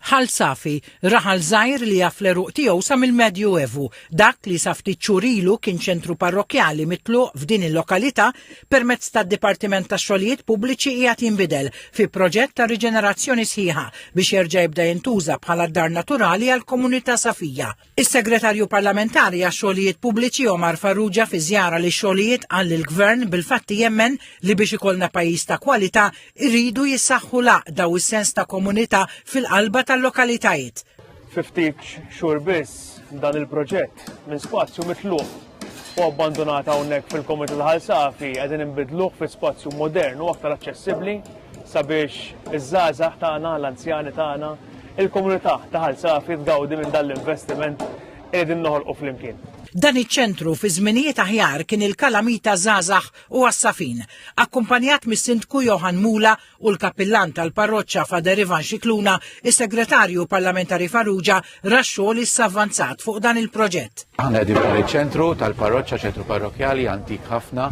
Ħal Safi, raħal żgħir li jaf l-għeruq tiegħu sa mill-Medju Evu, dak li sa ftit xhur ilu kien ċentru parrokkjali mitluq f'din il-lokalità permezz tad-Dipartiment tax-Xogħlijiet Pubbliċi qiegħed jinbidel fi proġett ta' riġenerazzjoni sħiħa biex jerġa' jibda jintuża bħala d-dar naturali għall-komunità Safija. Is-Segretarju Parlamentari għax-Xogħlijiet Pubbliċi Omar Farrugia fi żjara li xogħlijiet qal li l-Gvern bil-fatti jemmen li biex ikollna pajjiż ta' kwalità iridu jissaħħu l-għaqda u s-sens ta' komunità fil-qalba tal-lokalitajiet. Fi ftit xhur biss dan il-proġett minn spazju mitluq u abbandunat hawnhekk fil-Komitat Ħal Safi qegħdin inbidluh fi spazju modern u aktar aċċessibbli sabiex iż-żgħażagħ tagħna, l-anzjani tagħna, il-komunità ta' Ħal Safi tgawdi minn dan l-investiment li qegħdin noħolqu flimkien. Dan iċ-ċentru fi żminijiet aħjar kien il-kalamita żgħażagħ u għas-Safin, akkumpanjat mis-Sindku Johann Mula u l-Kappillan tal-Parroċċa Fader Ivan Scicluna, is-Segretarju Parlamentari Farrugia ra x-xogħol li issa avvanzat fuq dan il-proġett. Aħna qegħdin f'dan iċ-ċentru tal-parroċċa, ċentru parrokkjali antik ħafna,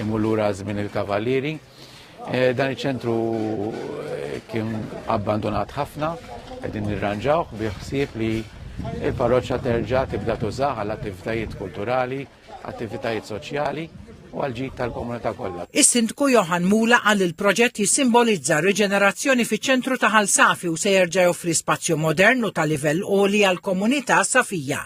imur lura żmien il-Kavallieri. Eh, dan iċ-ċentru eh, kien abbandonat ħafna, qegħdin nirranġawh bi ħsieb li il-parroċċa terġa' tibda tużaha għall attivitajiet kulturali, attivitajiet soċjali u għal-ġid tal-komunità kollha. Is-Sindku Johan Mula qal il-proġett jissimbolizza riġenerazzjoni fiċ-ċentru ta' Ħal Safi u se jerġa' joffri spazju modern u ta' livell għoli għall-komunità Safija.